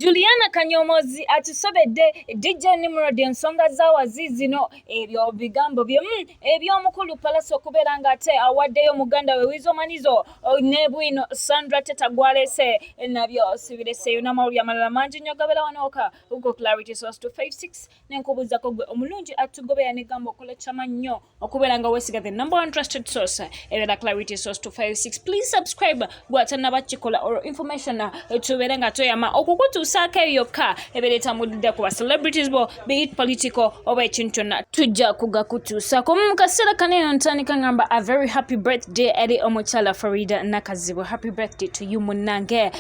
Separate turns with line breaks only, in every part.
Juliana Kanyomozi akisobedde DJ Nimrod ensonga z'awazi zino ebyo bigambo bye mm, eby'omukulu Palasi okubeera ng'ate awaddeyo muganda we Wizo Manizo oh, ne bwino Sandra Teta gw'aleese nabyo sibireseeyo n'amawulire amalala mangi nnyo gabeera wanooka uko Clarity Source 256 ne nkubuuzako gwe omulungi atugobera ne gamba okola kyama nnyo okubeera nga wesiga the number one trusted source erera clarity source 256 please subscribe gwatanaba kikola or information uh, tubeere nga toyama okukutuusaako eyo yokka ebeera etambulidde ku ba celebrities bo be it political oba ekintu kyonna tujja kugakutuusaako mu kaseera kano eno ntandika ngamba a very happy birthday eri omukyala farida nakazibu happy birthday to you munnange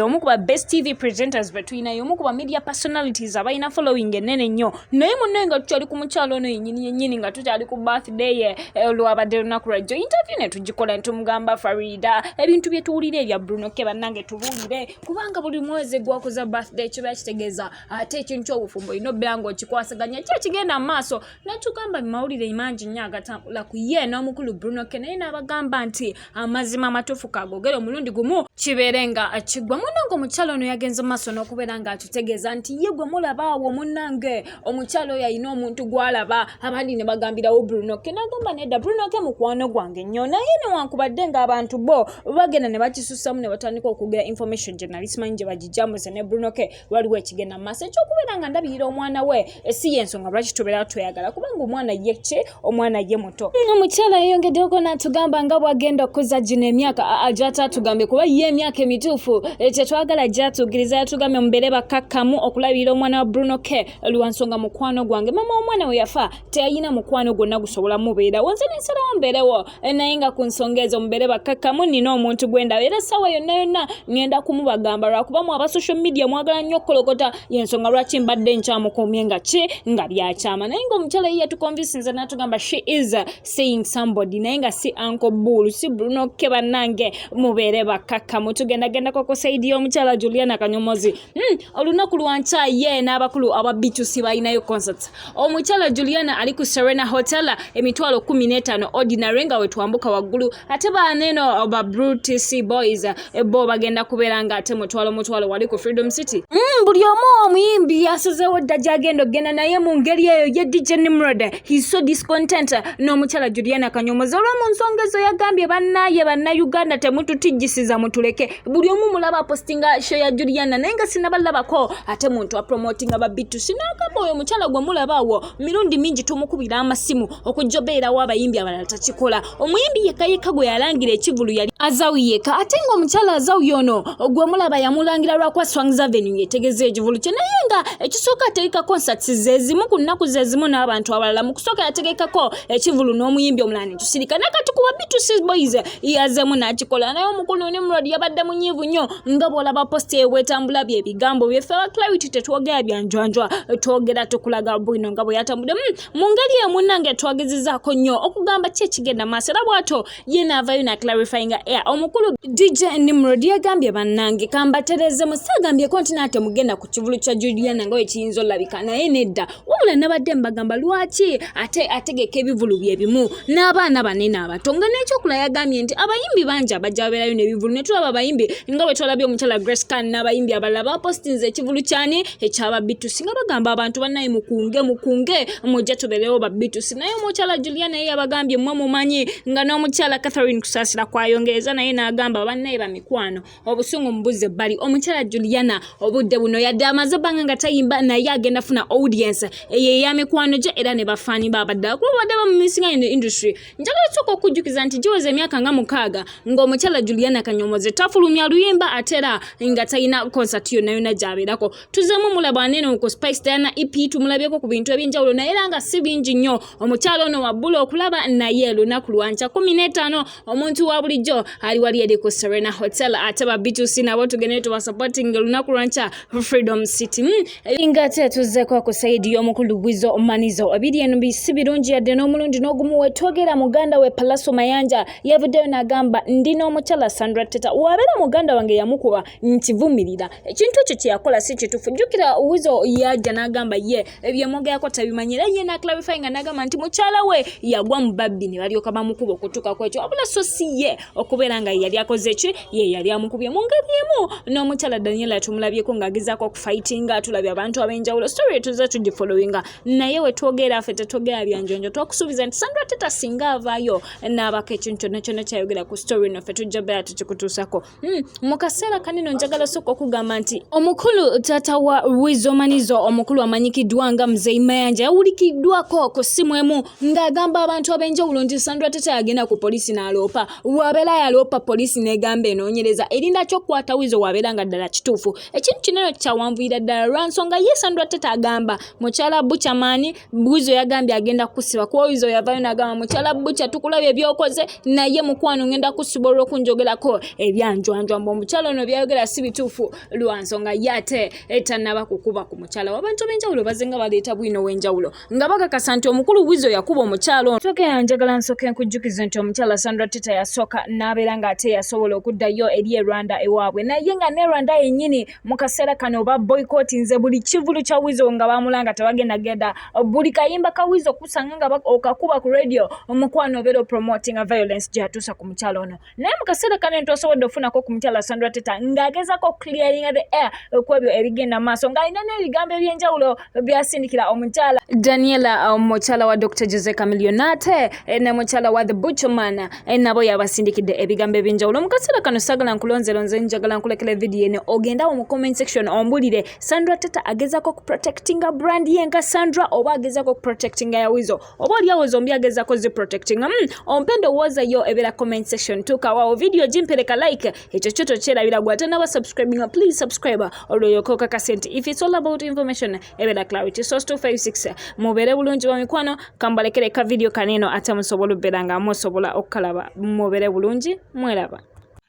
omu ku ba best tv presenters betulinayo omu ku ba media personalities abalina following enene nnyo naye munne nga tukyali ku mukyalo ono yenyini yenyini nga tukyali ku birthday ye eh, olwabadde lunaku lwajjo interview ne tugikola netumugamba farida ebintu bye tuwulira ebya bruno ke bannange tubuulire kubanga buli mwezi gwakuza birthday kiba kitegeeza ate ekintu kyobufumbo olina obeera nga okikwasaganya ki ekigenda mu maaso netugamba mumawulire mangi nnyo agatambula ku ye n'omukulu bruno ke naye n'abagamba nti amazima amatuufu kagogere omulundi gumu kibeere nga kigwa munange omukyalo ono yagenze maaso n'okubeera nga atutegeeza nti ye gwe mulabaawo munange omukyalo oyo alina omuntu gwalaba abandi ne bagambirawo brunoke nagamba nedda brunoke mukwano gwange nnyo naye newankubadde ng'abantu bo bagenda ne bakisusamu ne batandika okugera information gye nali simanyi gye bagijambuze ne brunoke waliwo ekigenda mu maaso ekyokubeera nga ndabirira omwana we si yensonga lwaki tubeera tweyagala kubanga omwana ye ki omwana ye muto omukyala yeyongeddeko natugamba nga bwagenda okukuza gino emyaka gyataatugambye kuba ye emyaka emituufu kyetwagala gyatugiriza yatugambye mubeere bakakkamu okulabirira omwana wa bruno k lwansonga mukwano gwange mama womwana we yafa teyalina mukwano gwonna gusobola mubeerawo nze nensalawo mbeerewo eh, naye nga ku nsonga ezo mubeere bakkakkamu nina omuntu gwe ndaba era essaawa yonna yonna ŋŋenda kumubagamba lwakuba mu aba social media mwagala nnyo okukolokota y'ensonga lwaki mbadde nkyamukuumye nga ki nga byakyama naye nga omukyala ye yatukonvisinza n'atugamba she is saying somebody naye nga si anko buulu si bulunokke bannange mubeere bakkakkamu tugendagendako ku saidi y'omukyala juliana kanyomozi Mm, olunaku lwa nkya ye n'abakulu aba bitusi balinayo concerts omukyala juliana ali ku serena hotel emitwalo kumi n'etaano ordinary nga wetwambuka waggulu ate baneeno ba brutc boys eh, bo bagenda kubeera nga ate mutwalo mutwalo wali ku freedom city mm, buli omu omuyimbi yasazeewo dda gyagenda okugenda naye mu ngeri eyo ye dj nimrod he's so discontent n'omukyala juliana kanyomozi olwomu nsonga ezo yagambye bannaye bannayuganda temututijjisiza mutuleke buli omu mulaba apostinga show ya juliana naye nga sinabalabako ate muntu apromotinga babitu sinagamba oyo omukyala gwe mulabaawo mirundi mingi tumukubira amasimu okujja obeerawo abayimbi abalala takikola omuyimbi yekka yekka gwe yalangira ekivulu yali azawu yekka ate nga omukyala azawu yono gwe mulaba yamulangira lwakuba swangs avenue yetegeza ekivulu kye naye nga ekisooka ategeka concerts zezimu ku nnaku zezimu n'abantu abalala mu kusooka yategekako ekivulu n'omuyimbi omulala netusirika nakati kuba bitusi boys yazeemu n'akikola naye omukulu nimrod yabadde munyiivu nnyo nga bw'olaba posita ebwetambula bye bigambo byeffe aba clarity tetwogera byanjwanjwa twogera tukulaga bwino nga bwe yatambudde hmm, mu ngeri emu nange twagezezaako nnyo okugamba ki ekigenda maaso era bw'ato ye n'avayo na clarifyinga air omukulu dj nimrod yagambye bannange kambatereeze musagambyeko nti naate mugenda ku kivulu kya juliana nga wekiyinza olabika naye nedda wabula nabadde mbagamba lwaki ate ategeka ebivulu bye bimu n'abaana banene abato nga n'ekyokula yagambye nti abayimbi bangi abajja babeerayo n'ebivulu ne tulaba abayimbi nga bwe twalabye omukyala grace can n'abayimbi abalala bapostinze ekivulu kyani ekyababitusi nga bagamba abantu banaye mukunge mukunge mujja tubeerewo babitusi naye omukyala julia naye yabagambye mwe mumanyi nga n'omukyala catherine kusaasira kwayongereza naye n'agamba bannaye bamikwano obusungu mubuze bali omukyala juliana obudde buno yadde amaze ebbanga nga tayimba naye agenda funa audience eyo eya mikwano gye era ne bafaani babaddala kuba badde bamumisinga ino industry njagala osooka okujjukiza nti giweza emyaka nga mukaaga ng'omukyala juliana kanyomoze tafulumya luyimba ate era nga talina konsati yonna yonna gyabeerako tuzemu mulaba anene ku spice diana ep tumulabyeko ku bintu ebyenjawulo naye era nga si bingi nnyo omukyala ono wabbula okulaba naye lunaku lwankya kumi n'etaano omuntu wa bulijjo ali wali eri ku serena hotel ate ba bitusi nabo tugende tubasupporting olunaku lwankya freedom city hmm, eh, nga ate tuzzeko ku saidi y'omukulu gwizo omanizo ebiri eno bisi birungi yadde n'omulundi n'ogumu wetwogera muganda we palaso mayanja yavuddeyo n'agamba ndi n'omukyala sandra teta wabeera muganda wange yamukuba nkivumirira ekintu ekyo kyeyakola si kitufu jjukira wizo yajja n'agamba ye ebyemwogerako tabimanyi era ye naclarify nga nagamba nti mukyala we yagwa mu babbi ne balyoka bamukuba okutuuka kwekyo wabula so si ye okubeera nga yeyali akoze ki ye yali amukubye mu ngeri emu n'omukyala daniela tumulabyeko ng'agezaako okufightinga atulabye abantu ab'enjawulo story tuze tugifollowinga naye wetwogera ffe tetwogera byanjonjo twakusuubiza nti sandra teta singa avaayo n'abako ekintu kyonna kyonna kyayogera ku story noffe tujja bera tukikutuusako Hmm, mu kaseera kanino njagala sooka okugamba nti omukulu taata wa wizomanizo omukulu amanyikiddwa nga mzei mayanja yawulikiddwako ku ssimu emu ng'agamba abantu ab'enjawulo nti sandra tata yagenda ku poliisi n'aloopa wabeera yaloopa poliisi n'egamba enoonyereza erinda ky'okukwata wizo wabeera nga ddala kituufu ekintu kinene kyawanvuyira ddala lwa nsonga ye sandra tata agamba mukyala buchamani Buzo yagambye agenda kusiba kuba oyiza oyavayo nagamba mukyala bukya tukulabye ebyokoze naye mukwano ngenda kusiba olwokunjogerako ebyanjwanjwa mbu omukyala ono byayogera si bituufu lwa nsonga ye ate etanaba kukuba ku mukyala wabantu abenjawulo bazenga baleeta bwino wenjawulo nga bakakasa nti omukulu wizo yakuba omukyala ono soka yanjagala nsoka enkujjukize nti omukyala sandra teta yasooka n'abeera ng'ate yasobola okuddayo eri e rwanda ewaabwe naye nga ne rwanda yennyini mu kaseera kano oba boyikooti nze buli kivulu kya wizo nga bamulanga tebagenda genda buli kayimba ka wizo kusanga nga okakuba ku radio omukwano obeera opromotinga violence gyeyatuusa ku mukyalo ono naye mu kaseera kano ntwasobodde ofunako ku mukyalo asandra teta ng'agezako clearinga the air okwebyo ebigenda maaso ng'alina n'ebigambo ebyenjawulo byasindikira omukyala daniela uh, mukyala wa dr jose camilionate eh, ne mukyala wa the butcherman eh, nabo yabasindikidde ebigambo ebyenjawulo mu kaseera kano sagala nkulonzelonze njagala nkulekera evidiyo eno ogendawo mu comment section ombulire sandra tata agezako okuprotectinga brand ye nga sandra oba agezako okuprotectinga yawizo oba olyawo zombi agezako zi protecting mm, ompe ndowooza yo ebera comment section tukawawo video gimpereka like ekyo kyo tokyerabira gwe ate naba subscribing please subscribe olwoyoka okakase nti if it's all about information ebera clarity source 256 mubeere bulungi wa mikwano kambalekere ka video kaneno ate musobola okubeera nga musobola okukalaba mubeere bulungi mweraba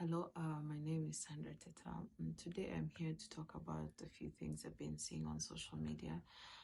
Hello, uh,
my name is Sandra Teta. Mm, today I'm here to talk about a few things I've been seeing on social media.